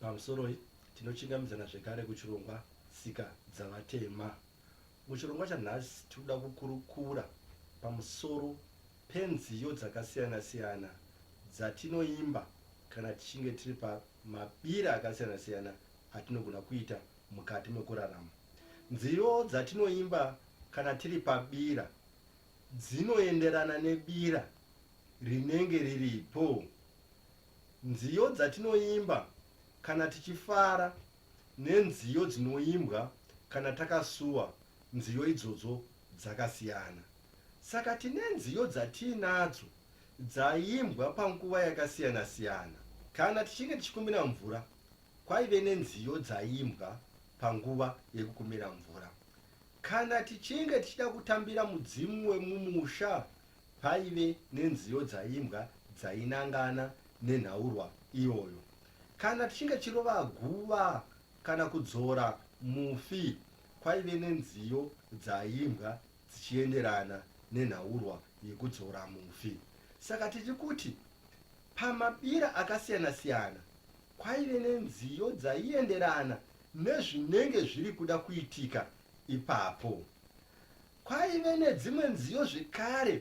Pamusoroi, tinochingamidzana zvekare kuchirongwa Tsika Dzavatema. Muchirongwa chanhasi tiri kuda kukurukura pamusoro penziyo dzakasiyana-siyana dzatinoimba kana tichinge tiri pamabira akasiyana-siyana atinogona kuita mukati mekurarama. Nziyo dzatinoimba kana tiri pabira dzinoenderana nebira rinenge riripo. Nziyo dzatinoimba kana tichifara nenziyo dzinoimbwa kana takasuwa nziyo idzodzo dzakasiyana. Saka tine nziyo dzatiinadzo dzaimbwa panguva yakasiyana siyana. Kana tichinge tichikumbira mvura kwaive nenziyo dzaimbwa panguva yekukumbira mvura. Kana tichinge tichida kutambira mudzimu wemumusha Paive nenziyo dzaimbwa dzainangana nenhaurwa iyoyo. Kana tichinge tichirova guva kana kudzora mufi kwaive nenziyo dzaimbwa dzichienderana nenhaurwa yekudzora mufi. Saka tiri kuti pamabira akasiyana-siyana kwaive nenziyo dzaienderana nezvinenge zviri kuda kuitika ipapo. Kwaive nedzimwe nziyo zvekare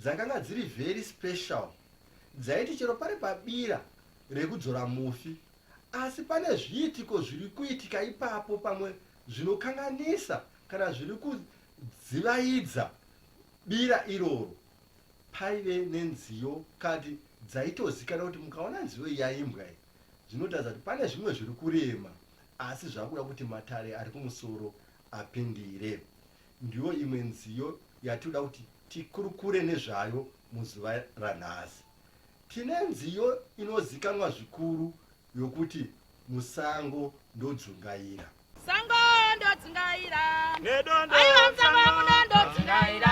dzakanga dziri very special dzaiti chero pari pabira rekudzora mufi asi pane zviitiko zviri kuitika ipapo pamwe zvinokanganisa kana zviri kudzivaidza bira iroro paive nenziyo kati dzaitozikana kuti mukaona nziyo iyi yaimbwa iyi zvinotaridza kuti pane zvimwe zviri kurema asi zvakuda kuti matare ari kumusoro apindire Ndiyo imwe nziyo yatinoda kuti tikurukure nezvayo muzuva ranhasi. Tine nziyo inozikanwa zvikuru yokuti Musango Ndodzungaira. Sango ndodzungaira. Nedondo Aiwa musango muno ndodzungaira.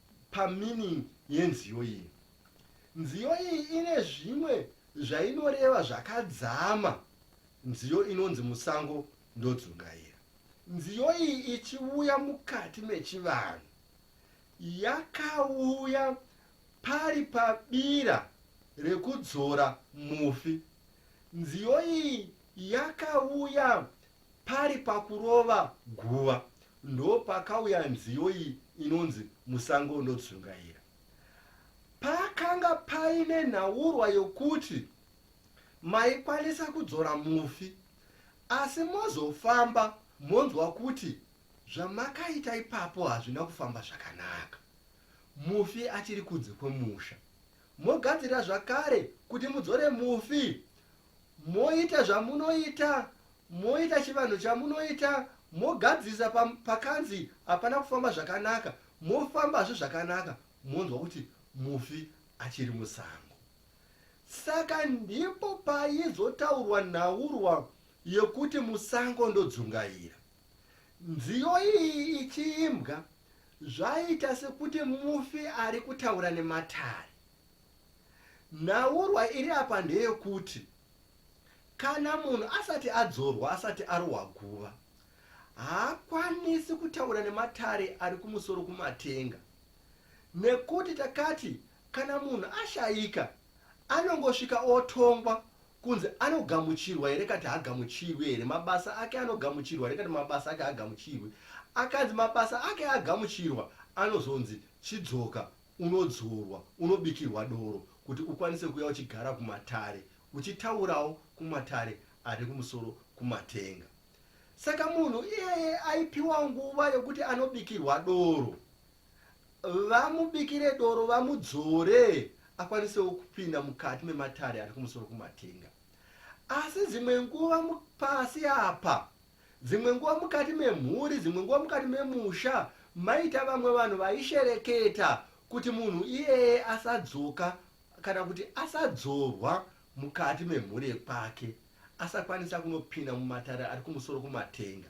Pameaning yenziyo iyi. Nziyo iyi ine zvimwe zvainoreva zvakadzama nziyo inonzi musango ndodzungaira. Nziyo iyi ichiuya mukati mechivanhu yakauya pari pabira rekudzora mufi. Nziyo iyi yakauya Pari pakurova guva ndopakauya nziyo iyi inonzi Musango Ndodzungaira. Pakanga paine nhaurwa yokuti maikwanisa kudzora mufi asi mozofamba monzwa kuti zvamakaita ipapo hazvina kufamba zvakanaka, mufi achiri kunze kwemusha. mogadzirira zvakare kuti mudzore mufi moita zvamunoita moita chivanhu chamunoita mogadzirisa pakanzi hapana kufamba zvakanaka mofambazve zvakanaka monzwa kuti mufi achiri musango saka ndipo paizotaurwa nhaurwa yekuti musango ndodzungaira Nziyo iyi ichiimbwa, zvaiita sekuti mufi ari kutaura nematare. Nhaurwa iri apa ndeyekuti kana munhu asati adzorwa asati arohwa guva, haakwanisi kutaura nematare ari kumusoro kumatenga nekuti takati kana munhu ashaika Anongosvika otongwa kunzi anogamuchirwa here kati haagamuchirwi here, mabasa ake anogamuchirwa here kati mabasa ake haagamuchirwi. Akanzi mabasa ake agamuchirwa anozonzi chidzoka unodzorwa, unobikirwa doro kuti ukwanise kuuya uchigara kumatare uchitaurawo kumatare ari kumusoro kumatenga. Saka munhu iyeye aipiwa nguva yekuti anobikirwa doro Vamubikire doro vamudzore akwanisewo kupinda mukati mematare ari kumusoro kumatenga. Asi dzimwe nguva pasi apa, dzimwe nguva mukati memhuri, dzimwe nguva mukati memusha, maita vamwe vanhu vaishereketa kuti munhu iyeye asadzoka kana kuti asadzorwa mukati memhuri yekwake, asakwanisa kunopinda mumatare ari kumusoro kumatenga.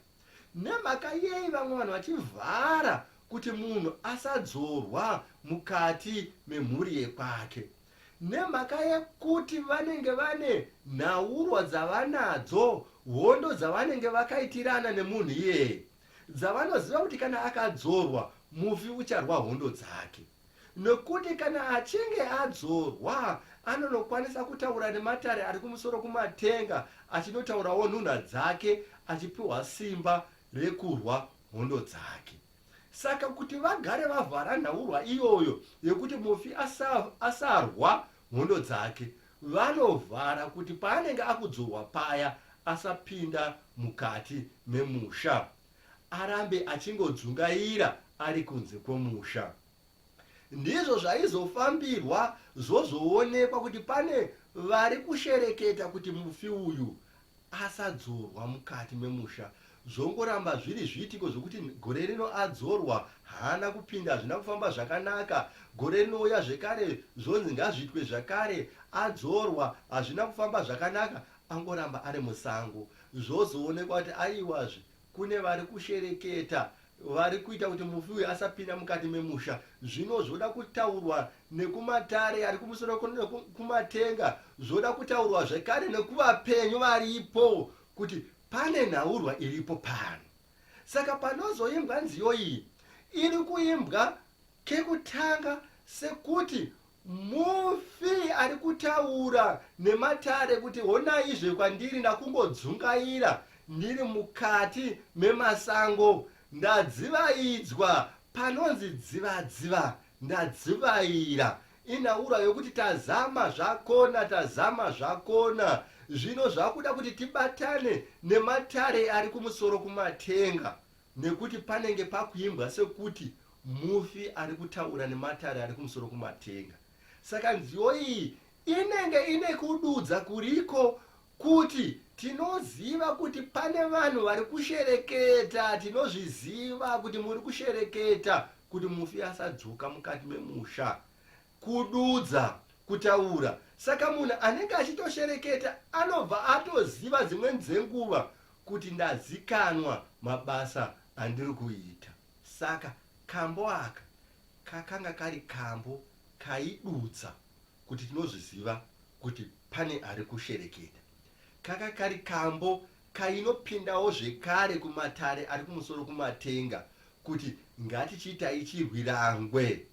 Nemhaka yei vamwe vanhu vachivhara kuti munhu asadzorwa mukati memhuri yekwake? Nemhaka yekuti vanenge vane nhaurwa dzavanadzo, hondo dzavanenge vakaitirana nemunhu iyeye, dzavanoziva kuti kana akadzorwa, mufi ucharwa hondo dzake. Nokuti kana achinge adzorwa, anonokwanisa kutaura nematare ari kumusoro kumatenga, achinotaurawo nhunha dzake, achipiwa simba rekurwa hondo dzake. Saka kuti vagare vavhara nhaurwa iyoyo yekuti mufi asa, asarwa hondo dzake, vanovhara kuti paanenge akudzorwa paya asapinda mukati memusha. arambe achingodzungaira ari kunze kwomusha. Ndizvo zvaizofambirwa zvozoonekwa kuti pane vari kushereketa kuti mufi uyu asadzorwa mukati memusha zvongoramba zviri zviitiko zvokuti gore rino adzorwa haana kupinda hazvina kufamba zvakanaka gore rinouya zvekare zvonzi ngazviitwe zvakare adzorwa hazvina kufamba zvakanaka Angoramba ari musango zvozoonekwa kuti aiwazve kune vari kushereketa vari kuita kuti mufi uyu asapinda mukati memusha. Zvino zvoda kutaurwa nekumatare ari kumusoro kumatenga, zvoda kutaurwa zvekare nekuvapenyu varipo kuti pane nhaurwa iripo pano. Saka panozoimbwa nziyo iyi iri kuimbwa Kekutanga, sekuti mufi ari kutaura nematare kuti honaizve kwandiri ndakungodzungaira ndiri mukati memasango ndadzivaidzwa panonzi dziva dziva ndadzivaira inhaura yokuti tazama zvakona tazama zvakona zvino zvakuda kuti tibatane nematare ari kumusoro kumatenga Nekuti panenge pakuimbwa sekuti mufi ari kutaura nematare ari kumusoro kumatenga. Saka nziyo iyi inenge ine kududza kuriko kuti tinoziva kuti pane vanhu vari kushereketa, tinozviziva kuti muri kushereketa kuti mufi asadzoka mukati memusha. Kududza, kutaura. Saka munhu anenge achitoshereketa anobva atoziva dzimweni dzenguva kuti ndazikanwa mabasa andiri kuita saka kambo aka kakanga kari kambo kaidudza kuti tinozviziva kuti pane ari kushereketa. Kaka kari kambo kainopindawo zvekare kumatare ari kumusoro kumatenga kuti ngatichiitai chirwirangwe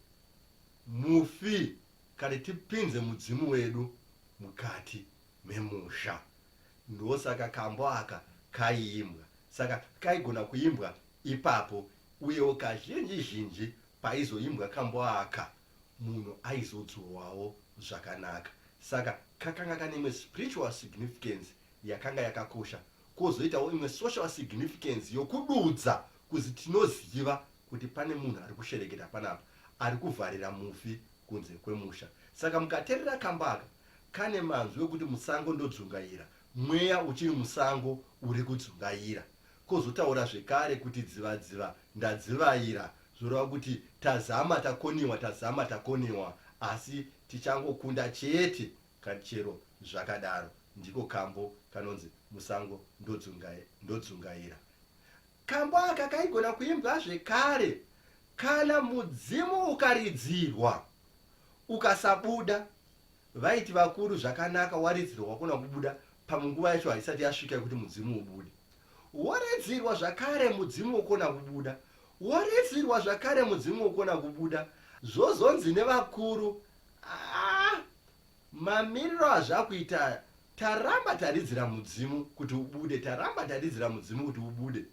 mufi kare tipinze mudzimu wedu mukati memusha. Ndosaka kambo aka kaiimbwa. Saka kaigona kuimbwa ipapo uyewo kazhinji zhinji paizoimbwa kambo aka munhu aizodzurwawo zvakanaka. Saka kakanga kane imwe spiritual significance yakanga yakakosha kozoitawo imwe social significance yokududza kuzi tinoziva kuti pane munhu ari kushereketa panapa ari kuvharira mufi kunze kwemusha. Saka mukaterera kambo aka Kane manzwi okuti musango ndodzungaira, mweya uchiri musango uri kudzungaira. Kozotaura zvekare kuti dzivadziva, ndadzivaira, zvoreva kuti tazama takoniwa, tazama takoniwa, asi tichangokunda chete. Chero zvakadaro, ndiko kambo kanonzi musango ndodzungaira. Kambo aka kaigona kuimbwa zvekare kana mudzimu ukaridzirwa ukasabuda vaiti vakuru zvakanaka waridzirwa wakona kubuda pamwe nguva yacho haisati yasvika yekuti mudzimu ubude woridzirwa zvakare mudzimu wokona kubuda woridzirwa zvakare mudzimu wokona kubuda zvozonzi nevakuru ah, mamiriro azvakuita Taramba taridzira mudzimu kuti ubude, taramba taridzira mudzimu kuti ubude.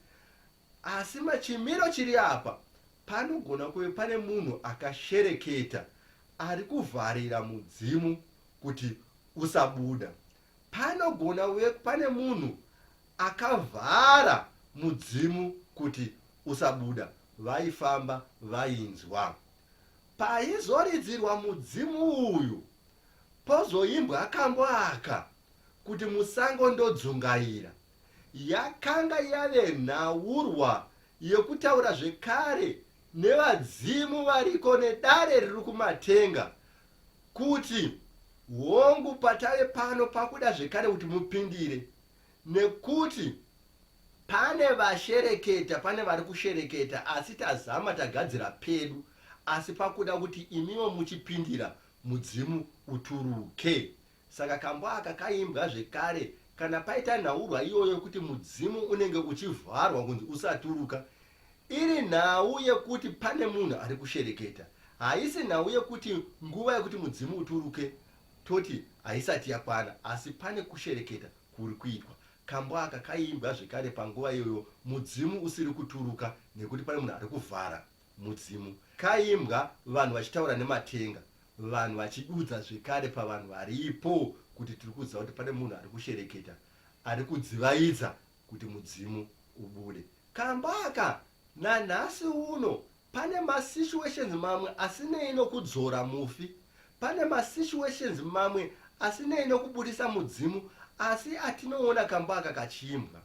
Asi machimiro chiri apa, panogona kuve pane munhu akashereketa ari kuvharira mudzimu kuti usabuda. Panogona kuve pane munhu akavhara mudzimu kuti usabuda. Vaifamba vainzwa. Paizoridzirwa mudzimu uyu, Pozoimbwa kambo aka kuti musango ndodzungaira. Yakanga yave nhaurwa yekutaura zvekare nevadzimu variko nedare riri kumatenga kuti hongu patave pano pakuda zvekare kuti mupindire. Nekuti pane vashereketa pane vari kushereketa asi tazama tagadzira pedu asi pakuda kuti imiwo muchipindira mudzimu uturuke. Saka kambo aka kaimbwa zvekare kana paita nhaurwa iyoyo yekuti mudzimu unenge uchivharwa kunzi usaturuka iri nhau yekuti pane munhu ari kushereketa haisi nhau yekuti nguva yekuti mudzimu uturuke toti haisati yakwana asi pane kushereketa kuri kuitwa. Kambo aka kaiimbwa zvekare panguva iyoyo mudzimu usiri kuturuka nekuti pane munhu ari kuvhara mudzimu. Kaiimbwa vanhu vachitaura nematenga, vanhu vachidudza zvekare pavanhu varipo kuti tiri kuziva kuti pane munhu ari kushereketa, ari kudzivaidza kuti mudzimu ubude. Kambo aka nanhasi uno Pane ma situations mamwe asinei nokudzora mufi. Pane ma situations mamwe asinei nokuburitsa mudzimu asi atinoona kambo aka kachiimbwa.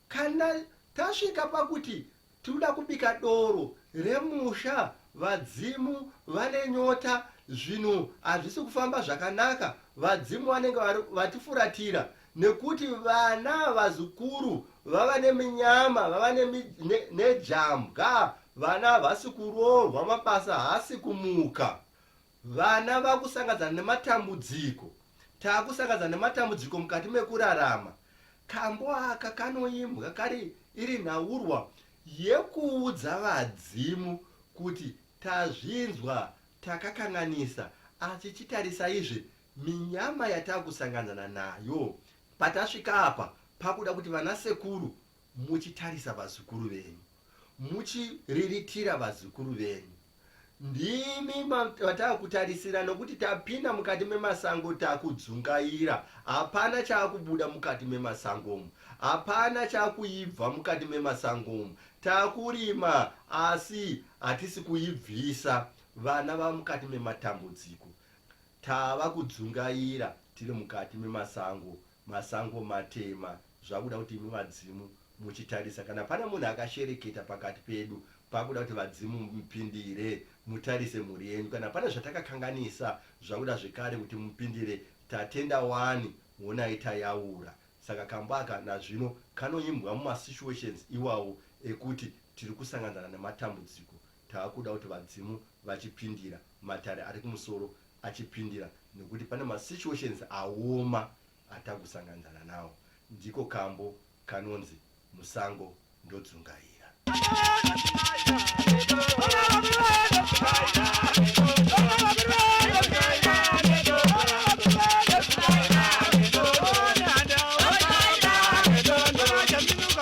Kana tasvika pakuti tinoda kubika doro remusha, vadzimu vane nyota, zvinhu hazvisi kufamba zvakanaka, vadzimu vanenge vatifuratira, nekuti vana vazukuru vava neminyama vava nejambwa vana havasi kuroorwa mabasa haasi kumuka vana vakusangadzana nematambudziko taakusangadzana nematambudziko mukati mekurarama kambo aka kanoimbwa kari iri nhaurwa yekuudza vadzimu kuti tazvinzwa takakanganisa asi chitarisaizve Minyama yatakusanganzana nayo patasvika apa pakuda kuti vana sekuru muchitarisa vazukuru venyu muchiriritira vazukuru venyu ndimi vatakutarisira nokuti tapinda mukati memasango takudzungaira hapana chakubuda mukati memasangomu hapana chakuibva mukati memasangomu takurima asi hatisi kuibvisa vana vamukati mematambudziko Tava kudzungaira tiri mukati memasango, masango matema, zvakuda kuti imi vadzimu muchitarisa kana pane munhu akashereketa pakati pedu pakuda kuti vadzimu mupindire mutarise mhuri yenyu kana pane zvatakakanganisa zvakuda zvekare kuti mupindire tatenda wani honai tayaura saka kambo aka nazvino kanoimbwa mumasituations iwawo ekuti tiri kusanganzana nematambudziko Taakuda kuti vadzimu vachipindira, matare ari kumusoro achipindira nokuti pane ma situations aoma atakusanganidzana nawo. Ndiko kambo kanonzi musango ndodzungaira.